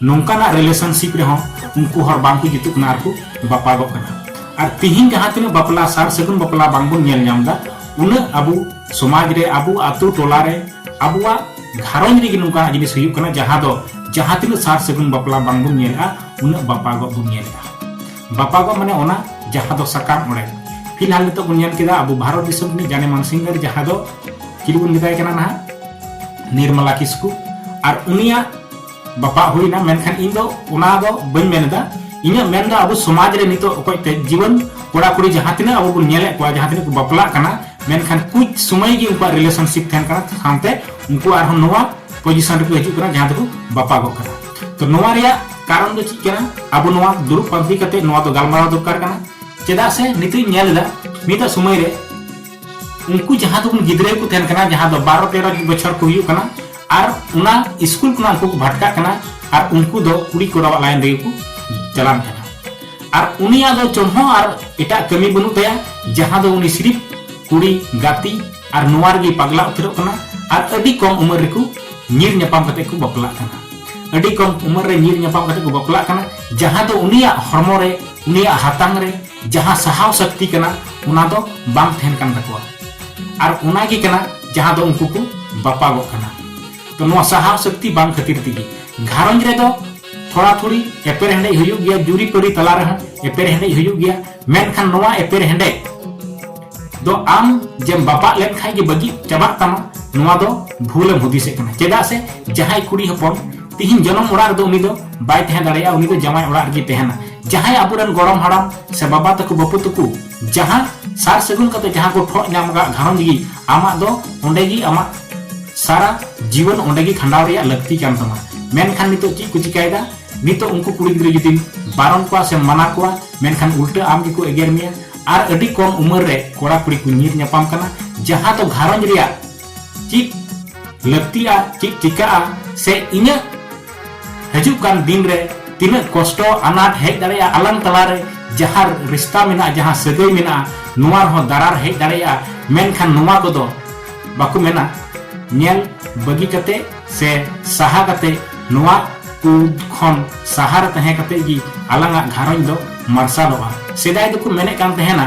ᱱᱚᱝᱠᱟᱱᱟᱜ ᱨᱤᱞᱮᱥᱚᱱᱥᱤᱯ ᱨᱮᱦᱚᱸ ᱩᱱᱠᱩ ᱦᱚᱲ ᱵᱟᱝ ᱠᱚ ᱡᱩᱛᱩᱜ ᱠᱟᱱᱟ ᱟᱨ ᱠᱚ ᱵᱟᱯᱟᱜᱚᱜ ᱠᱟᱱᱟ ᱟᱨ ᱛᱤᱦᱤᱧ ᱡᱟᱦᱟᱸ ᱛᱤᱱᱟᱹᱜ ᱵᱟᱯᱞᱟ ᱥᱟᱨ ᱥᱟᱹᱜᱩᱱ ᱵᱟᱯᱞᱟ ᱵᱟᱝ ᱵᱚᱱ ᱧᱮᱞ ᱧᱟᱢ ᱫᱟ ᱩᱱᱟᱹᱜ ᱟᱵᱚ ᱥᱚᱢᱟᱡᱽ ᱨᱮ ᱟᱵᱚ ᱟᱛᱳ ᱴᱚᱞᱟ ᱨᱮ ᱟᱵᱚᱣᱟᱜ ᱜᱷᱟᱨᱚᱸᱡᱽ ᱨᱮᱜᱮ ᱱᱚᱝᱠᱟᱱᱟᱜ ᱡᱤᱱᱤᱥ ᱦᱩᱭᱩᱜ ᱠᱟᱱᱟ ᱡᱟᱦᱟᱸ ᱫᱚ ᱡᱟᱦᱟᱸ ᱛᱤᱱᱟᱹᱜ ᱥᱟᱨ ᱥᱟᱹᱜᱩᱱ ᱵᱟᱯᱞᱟ ᱵᱟᱝ ᱵᱚᱱ ᱧᱮᱞᱟ ᱩᱱᱟᱹᱜ ᱵᱟᱯᱟᱜᱚᱜ ᱵᱚᱱ ᱧᱮᱞᱟ ᱵᱟᱯᱟᱜᱚᱜ ᱢᱟᱱᱮ ᱚᱱᱟ ᱡᱟᱦᱟᱸ ᱫᱚ ᱥᱟᱠᱟᱢ ᱚᱲᱮᱡ ᱯᱷᱤᱞᱦᱟᱞ ᱱᱤᱛᱚᱜ ᱵᱚᱱ ᱧᱮᱞ ᱠᱮᱫᱟ ᱟᱵᱚ ᱵᱷᱟᱨᱚᱛ ᱫᱤᱥᱚᱢ ᱨᱤᱱᱤᱡ ᱡᱟᱱᱮᱢᱟᱱ ᱥᱤᱝᱜᱟᱨ ᱡᱟᱦᱟᱸ ᱫᱚ ᱪᱤᱞᱤ ᱵᱚᱱ ᱢᱮᱛᱟᱭ ᱠᱟᱱᱟ ᱱᱟᱦᱟᱜ ᱱᱤᱨᱢᱟᱞᱟ ᱠᱤᱥᱠᱩ ᱟᱨ ᱩᱱᱤᱭᱟᱜ ᱵᱟᱯᱟ ᱦᱩᱭᱱᱟ ᱢᱮᱱᱠᱷᱟᱱ ᱤᱧ ᱫᱚ ᱚᱱᱟ ᱫᱚ ᱵᱟᱹᱧ ᱢᱮᱱ ᱮᱫᱟ ᱤᱧᱟᱹᱜ ᱢᱮᱱ ᱫᱚ ᱟᱵᱚ ᱥᱚᱢᱟᱡᱽ ᱨᱮ ᱱᱤᱛᱚᱜ ᱚᱠᱚᱭ ᱛᱮ ᱡᱤᱵᱚᱱ ᱠᱚᱲᱟ ᱠᱩᱲᱤ ᱡᱟᱦᱟᱸ ᱛᱤᱱᱟᱹᱜ ᱟᱵᱚ ᱵᱚᱱ ᱧᱮᱞᱮᱫ ᱠᱚᱣᱟ ᱡᱟᱦᱟᱸ ᱛᱤᱱᱟᱹᱜ ᱠᱚ ᱵᱟᱯᱞᱟᱜ ᱠᱟᱱᱟ ᱢᱮᱱᱠᱷᱟन ᱠᱩᱪ ᱥᱚᱢᱚᱭ ᱜᱮ ᱩᱱᱠᱩᱣᱟᱜ ᱨᱤᱞᱮᱥᱚᱱᱥᱤᱯ ᱛᱟᱦᱮᱱ ᱠᱟᱱᱟ ᱥᱟᱶᱛᱮ ᱩᱱᱠᱩ ᱟᱨᱦᱚᱸ ᱱᱚᱣᱟ ᱯᱚᱡᱤᱥᱚᱱ ᱨᱮᱠᱚ ᱦᱤᱡᱩᱜ ᱠᱟᱱᱟ ᱡᱟᱦᱟᱸ ᱫᱚᱠᱚ ᱵᱟᱯᱟᱜᱚᱜ ᱠᱟᱱᱟ ᱛᱚ ᱱᱚᱣᱟ ᱨᱮᱭᱟᱜ ᱠᱟᱨᱚᱱ ᱫᱚ ᱪᱮᱫ ᱠᱟᱱᱟ ᱟᱵᱚ ᱱᱚᱣᱟ ᱫᱩᱲᱩᱵ ᱯᱟᱱᱛᱮ ᱠᱟᱛᱮ ᱱᱚᱣᱟ ᱫᱚ ᱜᱟᱞᱢᱟᱨᱟᱣ ᱫᱚᱨᱠᱟᱨ ᱠᱟᱱᱟ ᱪᱮᱫᱟᱜ ᱥᱮ ᱱᱤᱛᱚᱜ ᱧᱮᱞ ᱮᱫᱟ ᱢᱤᱫ ᱥᱚᱢᱚᱭ ᱨᱮ ᱩᱱᱠᱩ ᱡᱟᱦᱟᱸ ᱫᱚ ᱜᱤᱫᱽᱨᱟᱹ ᱠᱚ ᱛᱟᱦᱮᱱ ᱠᱟᱱᱟ ᱡᱟᱦᱟᱸ ᱫᱚ ᱵᱟᱨᱚ ᱛᱮᱨᱚ ᱵᱚᱪᱷᱚᱨ ᱠᱚ ᱦᱩᱭᱩᱜ ᱠᱟᱱᱟ ᱟᱨ ᱚᱱᱟ ᱥᱠᱩᱞ ᱠᱷᱚᱱᱟᱜ ᱩᱱᱠᱩ ᱠᱚ ᱵᱷᱟᱴᱠᱟᱜ ᱠᱟᱱᱟ ᱟᱨ ᱩᱱᱠᱩ ᱫᱚ ᱠᱩᱲᱤ ᱠᱚᱲᱟᱣᱟᱜ ᱞᱟᱭᱤᱱ ᱨᱮᱜᱮ ᱠᱚ ᱪᱟᱞᱟᱱ ᱠᱟᱱᱟ ᱟᱨ ᱩᱱᱤᱭᱟᱜ ᱫᱚ ᱪᱚᱱ ᱦᱚᱸ ᱟᱨ ᱮᱴᱟᱜ ᱠᱟᱹᱢᱤ ᱵᱟᱹᱱᱩᱜ ᱛᱟᱭᱟ ᱡᱟᱦᱟᱸ ᱫᱚ ᱩᱱᱤ ᱥᱤᱨᱤᱯ ᱠᱩᱲᱤ ᱜᱟᱛᱮ ᱟᱨ ᱱᱚᱣᱟ ᱨᱮᱜᱮ ᱯᱟᱜᱽᱞᱟ ᱩᱛᱟᱹᱨᱚᱜ ᱠᱟᱱᱟ ᱟᱨ ᱟᱹᱰᱤ ᱠᱚᱢ ᱩᱢᱮᱨ ᱨᱮᱠᱚ ᱧᱤᱨ ᱧᱟᱯᱟᱢ ᱠᱟᱛᱮ ᱠᱚ ᱵᱟᱯᱞᱟᱜ ᱠᱟᱱᱟ ᱟᱹᱰᱤ ᱠᱚᱢ ᱩᱢᱮᱨ ᱨᱮ ᱧᱤᱨ ᱧᱟᱯᱟᱢ ᱠᱟᱛᱮ ᱠᱚ ᱵᱟᱯᱞᱟᱜ ᱠᱟᱱᱟ ᱡᱟᱦᱟᱸ ᱫᱚ ᱩᱱᱤᱭᱟᱜ ᱦᱚᱲᱢᱚ ᱨᱮ ᱩᱱᱤᱭᱟᱜ ᱦᱟᱛᱟᱝ ᱨᱮ ᱡᱟᱦᱟᱸ ᱥᱟᱦᱟᱣ ᱥᱟᱠᱛᱤ ᱠᱟᱱᱟ ᱚᱱᱟ ᱫᱚ ᱵᱟᱝ ᱛᱟᱦᱮᱱ ᱠᱟᱱ ᱛᱟᱠᱚᱣᱟ ᱟᱨ ᱚᱱᱟ ᱜᱮ ᱠᱟᱱᱟ ᱡᱟᱦᱟᱸ ᱫᱚ ᱩᱱᱠᱩ ᱠᱚ ᱵᱟᱯᱟᱜᱚᱜ ᱠᱟᱱᱟ ᱛᱚ ᱱᱚᱣᱟ ᱥᱟᱦᱟᱣ ᱥᱟᱠᱛᱤ ᱵᱟᱝ ᱠᱷᱟᱹᱛᱤᱨ ᱛᱮᱜᱮ ᱜᱷᱟᱨᱚᱸᱡᱽ ᱨᱮ ᱫᱚ ᱛᱷᱚᱲᱟ ᱛᱷᱩᱲᱤ ᱮᱯᱮᱨ ᱦᱮᱸᱰᱮᱡ ᱦᱩᱭᱩᱜ ᱜᱮᱭᱟ ᱡᱩᱨᱤ ᱯᱟᱹᱨᱤ ᱛᱟᱞᱟ ᱨᱮ ᱦᱚᱸ ᱮᱯᱮᱨ ᱦᱮᱸᱰᱮᱡ ᱦᱩᱭᱩᱜ ᱜᱮᱭᱟ ᱢᱮᱱᱠᱷᱟᱱ ᱱᱚᱣᱟ ᱮᱯᱮᱨ ᱦᱮᱸᱰᱮᱡ ᱫᱚ ᱟᱢ ᱡᱮᱢ ᱵᱟᱯᱟᱜ ᱞᱮᱱ ᱠᱷᱟᱱ ᱜᱮ ᱵᱟᱹᱜᱤ ᱪᱟᱵᱟᱜ ᱛᱟᱢᱟ ᱱᱚᱣᱟ ᱫᱚ ᱵᱷᱩᱞᱮᱢ ᱦᱩᱫᱤᱥᱮᱫ ᱠᱟᱱᱟ ᱪᱮᱫᱟᱜ ᱥᱮ ᱡᱟᱦᱟᱸᱭ ᱠᱩᱲᱤ ᱦᱚᱯᱚᱱ ᱛᱤᱦᱤᱧ ᱡᱚᱱᱚᱢ ᱚᱲᱟᱜ ᱨᱮᱫᱚ ᱩᱱᱤ ᱫᱚ ᱵᱟᱭ ᱛᱟᱦᱮᱸ ᱫᱟᱲᱮᱭᱟᱜᱼᱟ ᱩᱱᱤ ᱫᱚ ᱡᱟᱶᱟᱭ ᱚᱲᱟᱜ ᱨᱮᱜᱮ ᱛᱟᱦᱮᱱᱟ ᱡᱟᱦᱟᱸᱭ ᱟᱵᱚᱨᱮᱱ ᱜᱚᱲᱚᱢ ᱦᱟᱲᱟᱢ ᱥᱮ ᱵᱟᱵᱟ ᱛᱟᱠᱚ ᱵᱟᱹᱯᱩ ᱛᱟᱠᱚ ᱡᱟᱦᱟᱸ ᱥᱟᱨ ᱥᱟᱹᱜᱩᱱ ᱠᱟᱛᱮ ᱡᱟᱦᱟᱸ ᱠᱚ ᱴᱷᱚᱜ ᱧᱟᱢ ᱟᱠᱟᱫ ᱜᱷᱟᱨᱚᱸᱡᱽ ᱜᱮ ᱟᱢᱟᱜ ᱫᱚ ᱚᱸᱰᱮ ᱜᱮ ᱟᱢᱟᱜ ᱥᱟᱨᱟ ᱡᱤᱵᱚᱱ ᱚᱸᱰᱮ ᱜᱮ ᱠᱷᱟᱸᱰᱟᱣ ᱨᱮᱭᱟᱜ ᱞᱟᱹᱠᱛᱤ ᱠᱟᱱ ᱛᱟᱢᱟ ᱢᱮᱱᱠᱷᱟᱱ ᱱᱤᱛᱚᱜ ᱪᱮᱫ ᱠᱚ ᱪᱤᱠᱟᱹᱭᱮᱫᱟ ᱱᱤᱛᱚᱜ ᱩᱱᱠᱩ ᱠᱩᱲᱤ ᱜᱤᱫᱽᱨᱟᱹ ᱡᱩᱫᱤᱢ ᱵᱟᱨᱚᱱ ᱠᱚᱣᱟ ᱥᱮ ᱢᱟᱱᱟ ᱠᱚᱣᱟ ᱢᱮᱱᱠᱷᱟᱱ ᱩᱞᱴᱟᱹ ᱟᱢ ᱜᱮᱠᱚ ᱮᱜᱮᱨ ᱢᱮᱭᱟ ᱟᱨ ᱟᱹᱰᱤ ᱠᱚᱢ ᱩᱢᱮᱨ ᱨᱮ ᱠᱚᱲᱟ ᱠᱩᱲᱤ ᱠᱚ ᱧᱤᱨ ᱧᱟᱯᱟᱢ ᱠᱟᱱᱟ ᱡᱟᱦᱟᱸ ᱫᱚ ᱜᱷᱟᱨᱚᱸᱡᱽ ᱨᱮᱭᱟᱜ ᱪᱮᱫ ᱞᱟᱹᱠᱛᱤᱜᱼᱟ ᱪᱮᱫ ᱪᱤᱠᱟᱹᱜᱼᱟ ᱥᱮ ᱤᱧᱟᱹᱜ ᱦᱤᱡᱩᱜ ᱠᱟᱱ ᱫᱤᱱ ᱨᱮ ᱛᱤᱱᱟᱹᱜ ᱠᱚᱥᱴᱚ ᱟᱱᱟᱴ ᱦᱮᱡ ᱫᱟᱲᱮᱭᱟᱜᱼᱟ ᱟᱞᱟᱝ ᱛᱟᱞᱟᱨᱮ ᱡᱟᱦᱟᱸ ᱨᱤᱥᱛᱟ ᱢᱮᱱᱟᱜᱼᱟ ᱡᱟᱦᱟᱸ ᱥᱟᱹᱜᱟᱹᱭ ᱢᱮᱱᱟᱜᱼᱟ ᱱᱚᱣᱟ ᱨᱮᱦᱚᱸ ᱫᱟᱨᱟᱨ ᱦᱮᱡ ᱫᱟᱲᱮᱭᱟᱜᱼᱟ ᱢᱮᱱᱠᱷᱟᱱ ᱱᱚᱣᱟ ᱠᱚᱫᱚ ᱵᱟᱠᱚ ᱢᱮᱱᱟ ᱧᱮᱞ ᱵᱟᱹᱜᱤ ᱠᱟᱛᱮ ᱥᱮ ᱥᱟᱦᱟ ᱠᱟᱛᱮ ᱱᱚᱣᱟ ᱠᱚ ᱠᱷᱚᱱ ᱥᱟᱦᱟ ᱨᱮ ᱛᱟᱦᱮᱸ ᱠᱟᱛᱮ ᱜᱮ ᱟᱞᱟᱝᱟᱜ ᱜᱷᱟᱨᱚᱸᱡᱽ ᱫᱚ ᱢᱟᱨᱥᱟᱞᱚᱜᱼᱟ ᱥᱮᱫᱟᱭ ᱫᱚᱠᱚ ᱢᱮᱱᱮᱫ ᱠᱟᱱ ᱛᱟᱦᱮᱱᱟ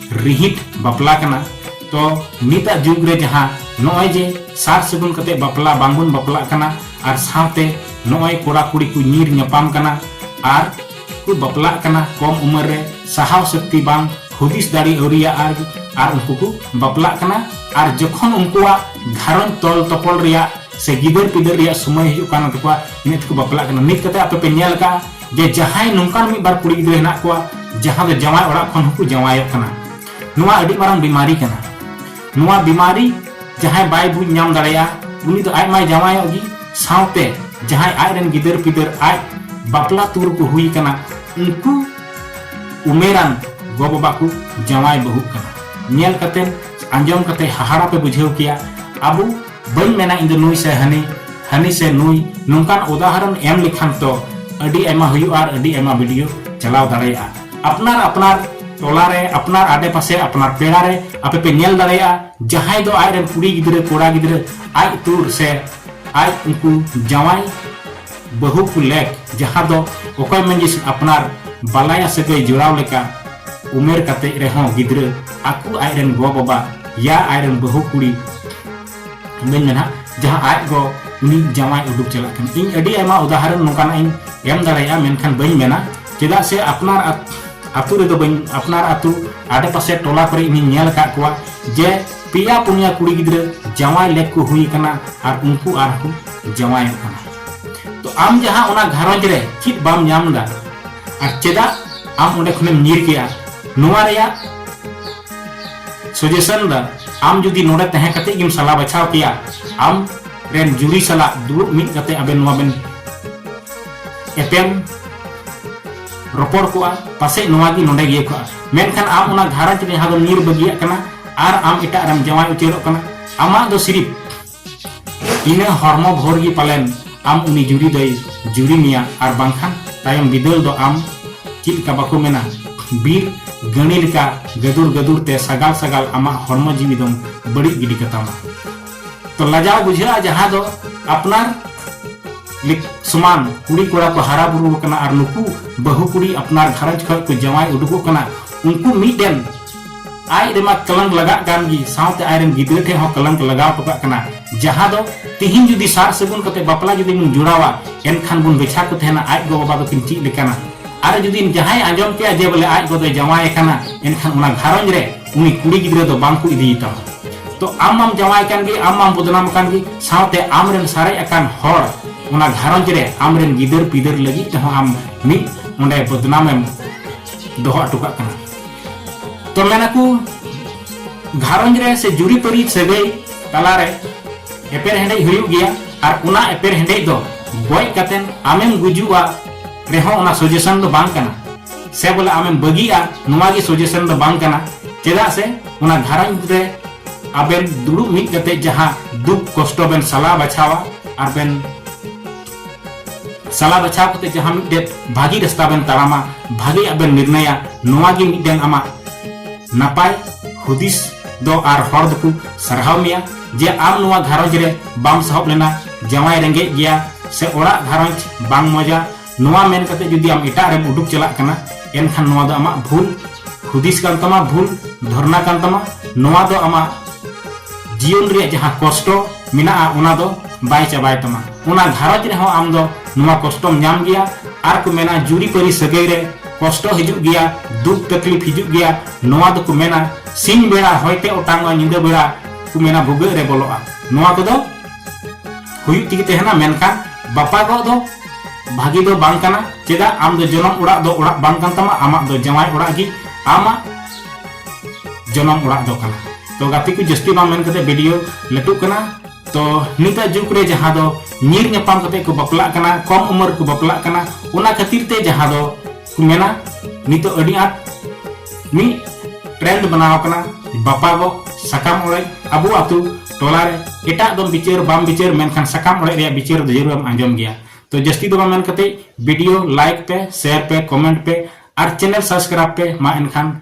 ᱨᱤᱦᱤᱴ ᱵᱟᱯᱞᱟ ᱠᱟᱱᱟ ᱛᱚ ᱱᱤᱛᱟᱜ ᱡᱩᱜᱽ ᱨᱮ ᱡᱟᱦᱟᱸ ᱱᱚᱜᱼᱚᱭ ᱡᱮ ᱥᱟᱨ ᱥᱟᱹᱜᱩᱱ ᱠᱟᱛᱮ ᱵᱟᱯᱞᱟ ᱵᱟᱝᱵᱚᱱ ᱵᱟᱯᱞᱟᱜ ᱠᱟᱱᱟ ᱟᱨ ᱥᱟᱶᱛᱮ ᱱᱚᱜᱼᱚᱭ ᱠᱚᱲᱟ ᱠᱩᱲᱤ ᱠᱚ ᱧᱤᱨ ᱧᱟᱯᱟᱢ ᱠᱟᱱᱟ ᱟᱨ ᱠᱚ ᱵᱟᱯᱞᱟᱜ ᱠᱟᱱᱟ ᱠᱚᱢ ᱩᱢᱮᱨ ᱨᱮ ᱥᱟᱦᱟᱣ ᱥᱚᱠᱛᱤ ᱵᱟᱝ ᱦᱩᱫᱤᱥ ᱫᱟᱲᱮ ᱟᱹᱣᱨᱤᱭᱟ ᱟᱨ ᱟᱨ ᱩᱱᱠᱩ ᱠᱚ ᱵᱟᱯᱞᱟᱜ ᱠᱟᱱᱟ ᱟᱨ ᱡᱚᱠᱷᱚᱱ ᱩᱱᱠᱩᱣᱟᱜ ᱜᱷᱟᱨᱚᱸᱡᱽ ᱛᱚᱞ ᱛᱚᱯᱚᱞ ᱨᱮᱭᱟᱜ ᱥᱮ ᱜᱤᱫᱟᱹᱨ ᱯᱤᱫᱟᱹᱨ ᱨᱮᱭᱟᱜ ᱥᱚᱢᱚᱭ ᱦᱤᱡᱩᱜ ᱠᱟᱱ ᱛᱟᱠᱚᱣᱟ ᱱᱤᱛ ᱠᱚ ᱵᱟᱯᱞᱟᱜ ᱠᱟᱱᱟ ᱱᱤᱛ ᱠᱟᱛᱮ ᱟᱯᱮ ᱯᱮ ᱧᱮᱞ ᱠᱟᱜᱼᱟ ᱡᱮ ᱡᱟᱦᱟᱸᱭ ᱱᱚᱝᱠᱟᱱ ᱢᱤᱫ ᱵᱟᱨ ᱠᱩᱲᱤ ᱜᱤᱫᱽᱨᱟᱹ ᱦᱮᱱᱟᱜ ᱠᱚᱣᱟ ᱡᱟᱦᱟᱸ ᱫᱚ ᱡᱟᱶᱟᱭ ᱚᱲᱟᱜ ᱠᱷᱚᱱ ᱦᱚᱸᱠᱚ ᱡᱟᱶᱟᱭᱚᱜ ᱠᱟᱱᱟ ᱱᱚᱣᱟ ᱟᱹᱰᱤ ᱢᱟᱨᱟᱝ ᱵᱤᱢᱟᱨᱤ ᱠᱟᱱᱟ ᱱᱚᱣᱟ ᱵᱤᱢᱟᱨᱤ ᱡᱟᱦᱟᱸᱭ ᱵᱟᱭ ᱵᱩᱡᱽ ᱧᱟᱢ ᱫᱟᱲᱮᱭᱟᱜᱼᱟ ᱩᱱᱤ ᱫᱚ ᱟᱡ ᱢᱟᱭ ᱡᱟᱶᱟᱭᱚᱜ ᱜᱮ ᱥᱟᱶᱛᱮ ᱡᱟᱦᱟᱸᱭ ᱟᱡ ᱨᱮᱱ ᱜᱤᱫᱟᱹᱨ ᱯᱤᱫᱟᱹᱨ ᱟᱡ ᱵᱟᱯᱞᱟ ᱛᱩᱨ ᱠᱚ ᱦᱩᱭ ᱠᱟᱱᱟ ᱩᱱᱠᱩ ᱩᱢᱮᱨᱟᱱ ᱜᱚ ᱵᱟᱵᱟ ᱠᱚ ᱡᱟᱶᱟᱭ ᱵᱟᱹᱦᱩᱜ ᱠᱟᱱᱟ ᱧᱮᱞ ᱠᱟᱛᱮ ᱟᱸᱡᱚᱢ ᱠᱟᱛᱮ ᱦᱟᱦᱟᱲᱟ ᱯᱮ ᱵᱩᱡᱷᱟᱹᱣ ᱠᱮᱭᱟ ᱟᱵᱚ ᱵᱟᱹᱧ ᱢᱮᱱᱟ ᱤᱧ ᱫᱚ ᱱᱩᱭ ᱥᱮ ᱦᱟᱹᱱᱤ ᱦᱟᱹᱱᱤ ᱥᱮ ᱱᱩᱭ ᱱᱚᱝᱠᱟᱱ ᱩᱫᱟᱦᱚᱨᱚᱱ ᱮᱢ ᱞᱮᱠᱷᱟᱱ ᱛᱚ ᱟᱹᱰᱤ ᱟᱭᱢᱟ ᱦᱩᱭᱩᱜᱼᱟ ᱟᱨ ᱟᱹᱰᱤ ᱟᱭᱢᱟ ᱵᱷᱤᱰᱤᱭᱳ ᱪᱟᱞᱟᱣ ᱫᱟᱲᱮᱭᱟᱜᱼᱟ ᱟᱯᱱᱟᱨ ᱟᱯᱱᱟᱨ ᱴᱚᱞᱟ ᱨᱮ ᱟᱯᱱᱟᱨ ᱟᱰᱮ ᱯᱟᱥᱮ ᱟᱯᱱᱟᱨ ᱯᱮᱲᱟ ᱨᱮ ᱟᱯᱮ ᱯᱮ ᱧᱮᱞ ᱫᱟᱲᱮᱭᱟᱜᱼᱟ ᱡᱟᱦᱟᱸᱭ ᱫᱚ ᱟᱡ ᱨᱮᱱ ᱠᱩᱲᱤ ᱜᱤᱫᱽᱨᱟᱹ ᱠᱚᱲᱟ ᱜᱤᱫᱽᱨᱟᱹ ᱟᱡ ᱛᱩᱨ ᱥᱮ ᱟᱡ ᱩᱱᱠᱩ ᱡᱟᱶᱟᱭ ᱵᱟᱹᱦᱩ ᱠᱚ ᱞᱮᱠ ᱡᱟᱦᱟᱸ ᱫᱚ ᱚᱠᱚᱭ ᱢᱟᱹᱡᱷᱤᱥ ᱟᱯᱱᱟᱨ ᱵᱟᱞᱟᱭᱟ ᱥᱟᱹᱜᱟᱹᱭ ᱡᱚᱲᱟᱣ ᱞᱮᱠᱟ ᱩᱢᱮᱨ ᱠᱟᱛᱮ ᱨᱮᱦᱚᱸ ᱜᱤᱫᱽᱨᱟᱹ ᱟᱠᱚ ᱟᱡ ᱨᱮᱱ ᱜᱚ ᱵᱟᱵᱟ ᱭᱟ ᱟᱡ ᱨᱮᱱ ᱵᱟᱹᱦᱩ ᱠᱩᱲᱤ ᱢᱮᱱ ᱢᱮᱱᱟ ᱡᱟᱦᱟᱸ ᱟᱡ ᱜᱚ ᱩᱱᱤ ᱡᱟᱶᱟᱭ ᱩᱰᱩᱠ ᱪᱟᱞᱟᱜ ᱠᱟᱱᱟ ᱤᱧ ᱟᱹᱰᱤ ᱟᱭᱢᱟ ᱩᱫᱟᱦᱚᱨᱚᱱ ᱱᱚᱝᱠᱟᱱᱟᱜ ᱤᱧ ᱮᱢ ᱫᱟᱲᱮᱭᱟᱜᱼᱟ ᱢᱮᱱᱠᱷᱟᱱ ᱵᱟᱹᱧ ᱢᱮᱱᱟ ᱪᱮᱫᱟᱜ ᱥᱮ ᱟᱯᱱᱟᱨ ᱟᱛᱳ ᱨᱮᱫᱚ ᱵᱟᱹᱧ ᱟᱯᱱᱟᱨ ᱟᱛᱳ ᱟᱰᱮᱯᱟᱥᱮ ᱴᱚᱞᱟ ᱠᱚᱨᱮ ᱤᱧᱤᱧ ᱧᱮᱞ ᱟᱠᱟᱫ ᱠᱚᱣᱟ ᱡᱮ ᱯᱮᱭᱟ ᱯᱩᱱᱭᱟ ᱠᱩᱲᱤ ᱜᱤᱫᱽᱨᱟᱹ ᱡᱟᱶᱟᱭ ᱞᱮᱠ ᱠᱚ ᱦᱩᱭ ᱠᱟᱱᱟ ᱟᱨ ᱩᱱᱠᱩ ᱟᱨ ᱠᱚ ᱡᱟᱶᱟᱭᱚᱜ ᱠᱟᱱᱟ ᱛᱚ ᱟᱢ ᱡᱟᱦᱟᱸ ᱚᱱᱟ ᱜᱷᱟᱨᱚᱸᱡᱽ ᱨᱮ ᱪᱮᱫ ᱵᱟᱢ ᱧᱟᱢ ᱫᱟ ᱟᱨ ᱪᱮᱫᱟᱜ ᱟᱢ ᱚᱸᱰᱮ ᱠᱷᱚᱱᱮᱢ ᱧᱤᱨ ᱠᱮᱜᱼᱟ ᱱᱚᱣᱟ ᱨᱮᱭᱟᱜ ᱥᱚᱡᱮᱥᱚᱱ ᱫᱚ ᱟᱢ ᱡᱩᱫᱤ ᱱᱚᱰᱮ ᱛᱟᱦᱮᱸ ᱠᱟᱛᱮ ᱜᱮᱢ ᱥᱟᱞᱟ ᱵᱟᱪᱷᱟᱣ ᱠᱮᱭᱟ ᱟᱢ ᱨᱮᱱ ᱡᱩᱨᱤ ᱥᱟᱞᱟᱜ ᱫᱩᱲᱩᱵ ᱢᱤᱫ ᱠᱟᱛᱮ ᱟᱵᱮᱱ ᱱᱚᱣᱟ ᱵᱮᱱ ᱮᱯᱮᱢ ᱨᱚᱯᱚᱲ ᱠᱚᱜᱼᱟ ᱯᱟᱥᱮᱡ ᱱᱚᱣᱟ ᱜᱮ ᱱᱚᱰᱮ ᱜᱮ ᱠᱚᱜᱼᱟ ᱢᱮᱱᱠᱷᱟᱱ ᱟᱢ ᱚᱱᱟ ᱜᱷᱟᱨᱚᱸᱡᱽ ᱨᱮ ᱡᱟᱦᱟᱸ ᱫᱚ ᱧᱤᱨ ᱵᱟᱹᱜᱤᱭᱟᱜ ᱠᱟᱱᱟ ᱟᱨ ᱟᱢ ᱮᱴᱟᱜ ᱨᱮᱢ ᱡᱟᱶᱟᱭ ᱩᱛᱟᱹᱨᱚᱜ ᱠᱟᱱᱟ ᱟᱢᱟᱜ ᱫᱚ ᱥᱤᱨᱤᱯ ᱤᱱᱟᱹ ᱦᱚᱲᱢᱚ ᱵᱷᱳᱨ ᱜᱮ ᱯᱟᱞᱮᱱ ᱟᱢ ᱩᱱᱤ ᱡᱩᱨᱤ ᱫᱚᱭ ᱡᱩᱨᱤ ᱢᱮᱭᱟ ᱟᱨ ᱵᱟᱝᱠᱷᱟᱱ ᱛᱟᱭᱚᱢ ᱵᱤᱫᱟᱹᱞ ᱫᱚ ᱟᱢ ᱪᱮᱫ ᱞᱮᱠᱟ ᱵᱟᱠᱚ ᱢᱮᱱᱟ ᱵᱤᱨ ᱜᱟᱹᱬᱤ ᱞᱮᱠᱟ ᱜᱟᱹᱫᱩᱨ ᱜᱟᱹᱫᱩᱨ ᱛᱮ ᱥᱟᱜᱟᱞ ᱥᱟᱜᱟᱞ ᱟᱢᱟᱜ ᱦᱚᱲᱢᱚ ᱡᱤᱣᱤ ᱫᱚᱢ ᱵᱟᱹᱲᱤᱡ ᱜᱤᱰᱤ ᱠᱟᱛᱟᱢᱟ ᱛᱚ ᱞᱟᱡᱟᱣ ᱵᱩᱡᱷᱟᱹᱜᱼᱟ ᱡᱟᱦᱟᱸ ᱫᱚ ᱟᱯᱱᱟᱨ ᱥᱚᱢᱟᱱ ᱠᱩᱲᱤ ᱠᱚᱲᱟ ᱠᱚ ᱦᱟᱨᱟ ᱵᱩᱨᱩ ᱟᱠᱟᱱᱟ ᱟᱨ ᱱᱩᱠᱩ ᱵᱟᱹᱦᱩ ᱠᱩᱲᱤ ᱟᱯᱱᱟᱨ ᱜᱷᱟᱨᱚᱸᱡᱽ ᱠᱷᱚᱱ ᱠᱚ ᱡᱟᱶᱟᱭ ᱩᱰᱩᱠᱚᱜ ᱠᱟᱱᱟ ᱩᱱᱠᱩ ᱢᱤᱫᱴᱮᱱ ᱟᱡ ᱨᱮᱢᱟ ᱠᱞᱟᱝ ᱞᱟᱜᱟᱜ ᱠᱟᱱ ᱜᱮ ᱥᱟᱶᱛᱮ ᱟᱡ ᱨᱮᱱ ᱜᱤᱫᱽᱨᱟᱹ ᱴᱷᱮᱱ ᱦᱚᱸ ᱠᱞᱟᱝ ᱞᱟᱜᱟᱣ ᱴᱚᱠᱟᱜ ᱠᱟᱱᱟ ᱡᱟᱦᱟᱸ ᱫᱚ ᱛᱤᱦᱤᱧ ᱡᱩᱫᱤ ᱥᱟᱨ ᱥᱟᱹᱜᱩᱱ ᱠᱟᱛᱮ ᱵᱟᱯᱞᱟ ᱡᱩᱫᱤ ᱵᱚᱱ ᱡᱚᱲᱟᱣᱟ ᱮᱱᱠᱷᱟᱱ ᱵᱚᱱ ᱵᱮᱪᱷᱟ ᱠᱚ ᱛᱟᱦᱮᱱᱟ ᱟᱡ ᱜᱚ ᱵᱟᱵᱟ ᱫᱚᱠᱤᱱ ᱪᱮᱫ ᱞᱮᱠᱟᱱᱟ ᱟᱨ ᱡᱩᱫᱤ ᱡᱟᱦᱟᱸᱭ ᱟᱸᱡᱚᱢ ᱠᱮᱭᱟ ᱡᱮ ᱵᱚᱞᱮ ᱟᱡ ᱜᱚ ᱫᱚᱭ ᱡᱟᱶᱟᱭ ᱟᱠᱟᱱᱟ ᱮᱱᱠᱷᱟᱱ ᱚᱱᱟ ᱜᱷᱟᱨᱚᱸᱡᱽ ᱨᱮ ᱩᱱᱤ ᱠᱩᱲᱤ ᱜᱤᱫᱽᱨᱟᱹ ᱫᱚ ᱵᱟᱝ ᱠᱚ ᱤᱫᱤᱭᱮ ᱛᱟᱢᱟ ᱛᱚ ᱟᱢ ᱢᱟᱢ ᱡᱟᱶᱟᱭ ᱠᱟᱱ ᱜᱮ ᱟᱢ ᱢᱟᱢ ᱵᱚᱫᱱᱟᱢ ᱠᱟᱱ ᱜᱮ ᱥᱟᱶᱛᱮ ᱟᱢ ᱨᱮᱱ ᱥᱟᱨᱮᱡ ᱟᱠᱟᱱ ᱦᱚᱲ ᱚᱱᱟ ᱜᱷᱟᱨᱚᱸᱡᱽ ᱨᱮ ᱟᱢ ᱨᱮᱱ ᱜᱤᱫᱟᱹᱨ ᱯᱤᱫᱟᱹᱨ ᱞᱟᱹᱜᱤᱫ ᱛᱮᱦᱚᱸ ᱟᱢ ᱢᱤᱫ ᱚᱸᱰᱮ ᱵᱚᱫᱱᱟᱢᱮᱢ ᱫᱚᱦᱚ ᱦᱚᱴᱚ ᱠᱟᱜ ᱠᱟᱱᱟ ᱛᱚ ᱢᱮᱱᱟᱠᱚ ᱜᱷᱟᱨᱚᱸᱡᱽ ᱨᱮ ᱥᱮ ᱡᱩᱨᱤᱯᱟᱹᱨᱤ ᱥᱟᱹᱜᱟᱹᱭ ᱛᱟᱞᱟᱨᱮ ᱮᱯᱮᱨ ᱦᱮᱸᱰᱮᱡ ᱦᱩᱭᱩᱜ ᱜᱮᱭᱟ ᱟᱨ ᱚᱱᱟ ᱮᱯᱮᱨ ᱦᱮᱸᱰᱮᱡ ᱫᱚ ᱜᱚᱡ ᱠᱟᱛᱮᱱ ᱟᱢᱮᱢ ᱜᱩᱡᱩᱜᱼᱟ ᱨᱮᱦᱚᱸ ᱚᱱᱟ ᱥᱚᱡᱮᱥᱚᱱ ᱫᱚ ᱵᱟᱝ ᱠᱟᱱᱟ ᱥᱮ ᱵᱚᱞᱮ ᱟᱢᱮᱢ ᱵᱟᱹᱜᱤᱜᱼᱟ ᱱᱚᱣᱟ ᱜᱮ ᱥᱚᱡᱮᱥᱚᱱ ᱫᱚ ᱵᱟᱝ ᱠᱟᱱᱟ ᱪᱮᱫᱟᱜ ᱥᱮ ᱚᱱᱟ ᱜᱷᱟᱨᱚᱸᱡᱽ ᱨᱮ ᱟᱵᱮᱱ ᱫᱩᱲᱩᱵ ᱢᱤᱫ ᱠᱟᱛᱮ ᱡᱟᱦᱟᱸ ᱫᱩᱠ ᱠᱚᱥᱴᱚ ᱵᱮᱱ ᱥᱟᱞᱟ ᱵᱟᱪᱷᱟᱣᱟ ᱟᱨ ᱵᱮᱱ ᱥᱟᱞᱟ ᱵᱟᱪᱷᱟᱣ ᱠᱟᱛᱮ ᱡᱟᱦᱟᱸ ᱢᱤᱫᱴᱮᱱ ᱵᱷᱟᱹᱜᱤ ᱨᱟᱥᱛᱟ ᱵᱮᱱ ᱛᱟᱲᱟᱢᱟ ᱵᱷᱟᱹᱜᱤᱭᱟᱜ ᱵᱮᱱ ᱱᱤᱨᱱᱟᱭᱟ ᱱᱚᱣᱟ ᱜᱮ ᱢᱤᱫᱴᱮᱱ ᱟᱢᱟᱜ ᱱᱟᱯᱟᱭ ᱦᱩᱫᱤᱥ ᱫᱚ ᱟᱨ ᱦᱚᱲ ᱫᱚᱠᱚ ᱥᱟᱨᱦᱟᱣ ᱢᱮᱭᱟ ᱡᱮ ᱟᱢ ᱱᱚᱣᱟ ᱜᱷᱟᱨᱚᱸᱡᱽ ᱨᱮ ᱵᱟᱢ ᱥᱟᱦᱚᱵ ᱞᱮᱱᱟ ᱡᱟᱶᱟᱭ ᱨᱮᱸᱜᱮᱡ ᱜᱮᱭᱟ ᱥᱮ ᱚᱲᱟᱜ ᱜᱷᱟᱨᱚᱸᱡᱽ ᱵᱟᱝ ᱢᱚᱡᱟ ᱱᱚᱣᱟ ᱢᱮᱱ ᱠᱟᱛᱮ ᱡᱩᱫᱤ ᱟᱢ ᱮᱴᱟᱜ ᱨᱮᱢ ᱩᱰᱩᱠ ᱪᱟᱞᱟᱜ ᱠᱟᱱᱟ ᱮᱱᱠᱷᱟᱱ ᱱᱚᱣᱟ ᱫᱚ ᱟᱢᱟᱜ ᱵᱷᱩᱞ ᱦᱩᱫᱤᱥ ᱠᱟᱱ ᱛᱟᱢᱟ ᱵᱷᱩᱞ ᱫᱷᱚᱨᱱᱟ ᱠᱟᱱ ᱛᱟᱢᱟ ᱱᱚᱣᱟ ᱫᱚ ᱟᱢᱟᱜ ᱡᱤᱭᱚᱱ ᱨᱮᱭᱟᱜ ᱡᱟᱦᱟᱸ ᱠᱚᱥᱴᱚ ᱢᱮᱱᱟᱜᱼᱟ ᱚᱱᱟ ᱫᱚ ᱵᱟᱭ ᱪᱟᱵᱟᱭ ᱛᱟᱢᱟ ᱚᱱᱟ ᱜᱷᱟᱨᱚᱸᱡᱽ ᱨᱮᱦᱚᱸ ᱟᱢ ᱫᱚ ᱱᱚᱣᱟ ᱠᱚᱥᱴᱚᱢ ᱧᱟᱢ ᱜᱮᱭᱟ ᱟᱨ ᱠᱚ ᱢᱮᱱᱟ ᱡᱩᱨᱤ ᱯᱟᱹᱨᱤ ᱥᱟᱹᱜᱟᱹᱭ ᱨᱮ ᱠᱚᱥᱴᱚ ᱦᱤᱡᱩᱜ ᱜᱮᱭᱟ ᱫᱩᱠ ᱛᱟᱠᱞᱤᱯ ᱦᱤᱡᱩᱜ ᱜᱮᱭᱟ ᱱᱚᱣᱟ ᱫᱚᱠᱚ ᱢᱮᱱᱟ ᱥᱤᱧ ᱵᱮᱲᱟ ᱦᱚᱭᱛᱮ ᱚᱴᱟᱝᱚᱜᱼᱟ ᱧᱤᱫᱟᱹ ᱵᱮᱲᱟ ᱠᱚ ᱢᱮᱱᱟ ᱵᱷᱩᱜᱟᱹᱜ ᱨᱮ ᱵᱚᱞᱚᱜᱼᱟ ᱱᱚᱣᱟ ᱠᱚᱫᱚ ᱦᱩᱭᱩᱜ ᱛᱮᱜᱮ ᱛᱟᱦᱮᱱᱟ ᱢᱮᱱᱠᱷᱟᱱ ᱵᱟᱯᱟᱜᱚᱜ ᱫᱚ ᱵᱷᱟᱹᱜᱤ ᱫᱚ ᱵᱟᱝ ᱠᱟᱱᱟ ᱪᱮᱫᱟᱜ ᱟᱢ ᱫᱚ ᱡᱚᱱᱚᱢ ᱚᱲᱟᱜ ᱫᱚ ᱚᱲᱟᱜ ᱵᱟᱝ ᱠᱟᱱ ᱛᱟᱢᱟ ᱟᱢᱟᱜ ᱫᱚ ᱡᱟᱶᱟᱭ ᱚᱲᱟᱜ ᱜᱮ ᱟᱢᱟᱜ ᱡᱚᱱᱚᱢ ᱚᱲᱟᱜ ᱫᱚ ᱠᱟᱱᱟ ᱛᱚ ᱜᱟᱛᱮ ᱠᱚ ᱡᱟᱹᱥᱛᱤ ᱵᱟᱝ ᱢᱮᱱ ᱠᱟᱛᱮ ᱵᱷᱤᱰᱤᱭᱳ ᱞᱟᱹᱴᱩᱜ ᱠᱟᱱᱟ ᱛᱚ ᱱᱤᱛᱟᱜ ᱡᱩᱜᱽ ᱨᱮ ᱡᱟᱦᱟᱸ ᱫᱚ ᱧᱤᱨ ᱧᱟᱯᱟᱢ ᱠᱟᱛᱮ ᱠᱚ ᱵᱟᱯᱞᱟᱜ ᱠᱟᱱᱟ ᱠᱚᱢ ᱩᱢᱮᱨ ᱠᱚ ᱵᱟᱯᱞᱟᱜ ᱠᱟᱱᱟ ᱚᱱᱟ ᱠᱷᱟᱹᱛᱤᱨ ᱛᱮ ᱡᱟᱦᱟᱸ ᱫᱚ ᱠᱚ ᱢᱮᱱᱟ ᱱᱤᱛᱚᱜ ᱟᱹᱰᱤ ᱟᱸᱴ ᱢᱤᱫ ᱴᱨᱮᱱᱰ ᱵᱮᱱᱟᱣ ᱠᱟᱱᱟ ᱵᱟᱯᱟᱜᱚᱜ ᱥᱟᱠᱟᱢ ᱚᱲᱮᱡ ᱟᱵᱚ ᱟᱛᱳ ᱴᱚᱞᱟ ᱨᱮ ᱮᱴᱟᱜ ᱫᱚ ᱵᱤᱪᱟᱹᱨ ᱵᱟᱢ ᱵᱤᱪᱟᱹᱨ ᱢᱮᱱᱠᱷᱟᱱ ᱥᱟᱠᱟᱢ ᱚᱲᱮᱡ ᱨᱮᱭᱟᱜ ᱵᱤᱪᱟᱹᱨ ᱫᱚ ᱡᱟᱹᱨᱩᱲ ᱮᱢ ᱟᱸᱡᱚᱢ ᱜᱮᱭᱟ ᱛᱚ ᱡᱟᱹᱥᱛᱤ ᱫᱚ ᱵᱟᱝ ᱢᱮᱱ ᱠᱟᱛᱮ ᱵᱷᱤᱰᱤᱭᱳ ᱞᱟᱭᱤᱠ ᱯᱮ ᱥᱮᱭᱟᱨ ᱯᱮ ᱠᱚᱢᱮᱱᱴ ᱯᱮ ᱟᱨ ᱪᱮᱱᱮᱞ ᱥᱟᱵᱥᱠᱨᱟᱭᱤᱵ ᱯᱮ ᱢᱟ ᱮᱱᱠᱷᱟᱱ